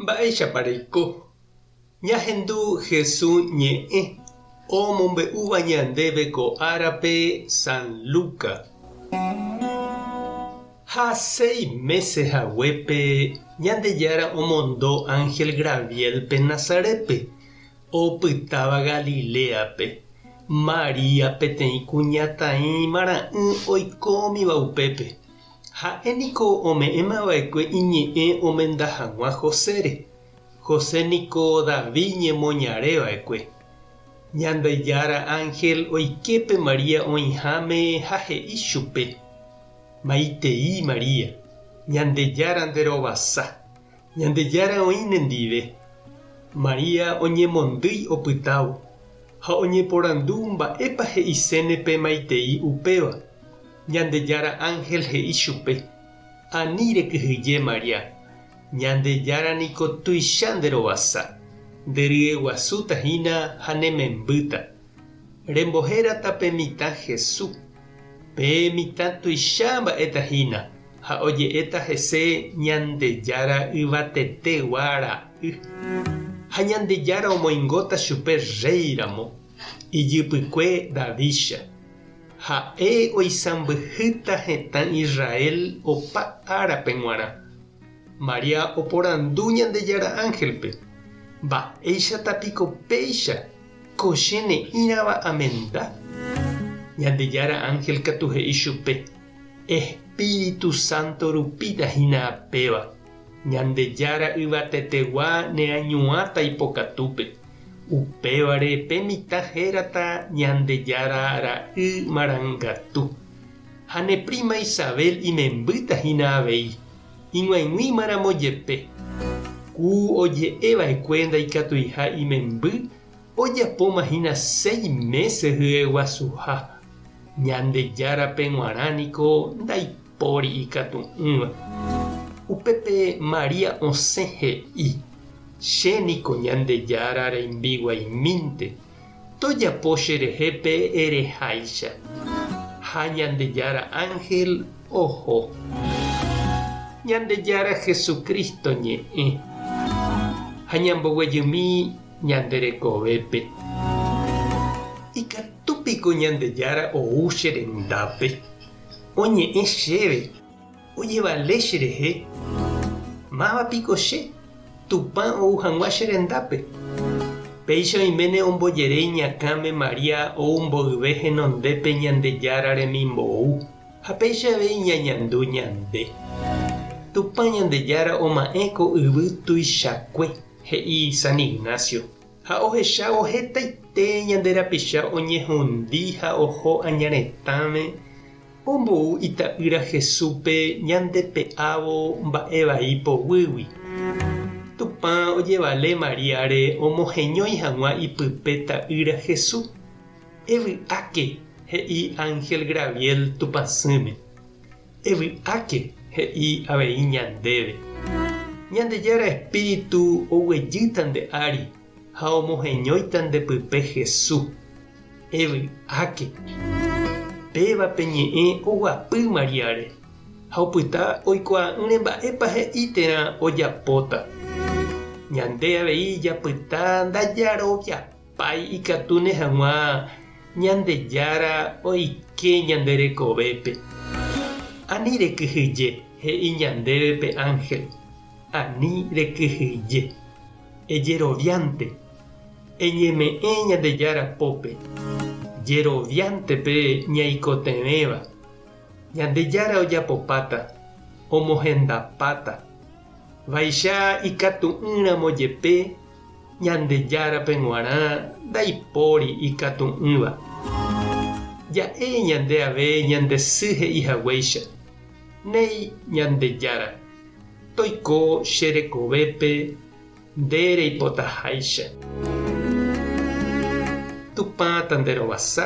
Mba'éichapa reiko ñahendu Jesús ñe'ẽ omombe'úva ñandéve ko árape San Lucas? Ha seis mése haguépe Ñandejára omondo ánhel Graviélpe Nazarétpe, opytáva Galiléape. María peteĩ kuñataĩmara'ỹ oikómiva upépe. Ha'e niko ome'ẽma va'ekue iñe'ẽ omenda hag̃ua Josére. José niko David ñemoñare va'ekue. Ñandejára ánhel oike pe María oĩháme ha he'i chupe, Maitei María, Ñandejára nde rovasa, Ñandejára oĩ nendive. María oñemondýi opytávo, ha oñeporandu mba'épa he'iséne pemaitei upéva. Ñandejára ánhel he'i chupe, Ani rekyhyje, María, Ñandejára niko tuicha nderovasa, nderyeguasúta hína ha nemembýta. Rembohérata pe mitã Hesu, pe mitã tuicha mba'éta hína, ha oje'éta hese Ñandejára Yvatetegua Ra'y. Ha Ñandejára omoingóta chupe rréi ramo, ijypykue Davídcha. Ha'e oisãmbyhýta hetã Israel opa árape g̃uarã. María oporandu Ñandejára ángelpe, Mba'éichata piko péicha? Ko che ne'ĩrava amenda, Ñandejára ánhel katu he'i chupe, Espíritu Santo rupíta hína apéva, Ñandejára yvatetegua neañuãta ipokatúpe. Upévare pe mitã hérata Ñandejára ra'y marangatu. Ha ne príma Isabel imembýta hína avei. ig̃uaig̃uímaramo jepe, ku oje'eva'ekue ndaikatuiha imemby ojapomahína seis mése hyeguasuha, Ñandejárape g̃uarã niko ndaipóri ikatu'ỹva. Upépe María osẽ he'i, Che niko Ñandejára reimbiguaimínte. Tojapo cherehe pe ereháicha. Ha Ñandejára ánhel oho. Ñandejára Jesucristo ñe'ẽ. Ha ñamboguejymi ñande rekovépe. Ikatúpiko Ñandejára ou che rendápe, oñe'ẽ chéve. Ojevale cherehe, máva piko che, Tupã ou hag̃ua che rendápe. Péicha oiméne ombojere iñakãme María ou mboyve henondépe Ñandejára remimbou ha péicha avei ñañandu ñande. Tupã Ñandejára oma'ẽ ko yvy tuichakue, he'i San Ignacio. Ha ohechávo hetaite ñande rapicha oñehundi ha oho aña retãme, ombou Ita'ýra Jesúspe ñandepe'ávo mba'e vai poguýgui. Tupã ojevale Maríare omoheñói hag̃ua ipype Ta'ýra Jesús. Evy'áke, he'i ánhel Graviel Tupãsỹme. Evy'áke, he'i avei ñandéve. Ñandejára Espíritu oguejýta nde ári ha omoheñóita nde pype Hesu. Evy'áke. Péva pe ñe'ẽ oguapy Mariáre ha opyta oikuaa'ỹre mba'épa he'i térã ojapóta. Ñande avei japyta ndajaroviapy. Pay ikatúne hag̃ua Ñandejára oike ñande rekovépe. Ani rekyhyje, he'i ñandéve pe ánhel, ani rekyhyje. Ejeroviánte, eñeme'ẽ Ñandejára pópe, jeroviánte pe ñaikotevẽva. Ñandejára ojapopáta, omohendapáta. Vaicha ikatu'ỹramo jepe Ñandejárape g̃uarã ndaipóri ikatu'ỹva. Ja'e ñande ave ñande sy he'i haguéicha, Néi Ñandejára, toiko che rekovépe nde reipotaháicha. Tupã tanderovasa.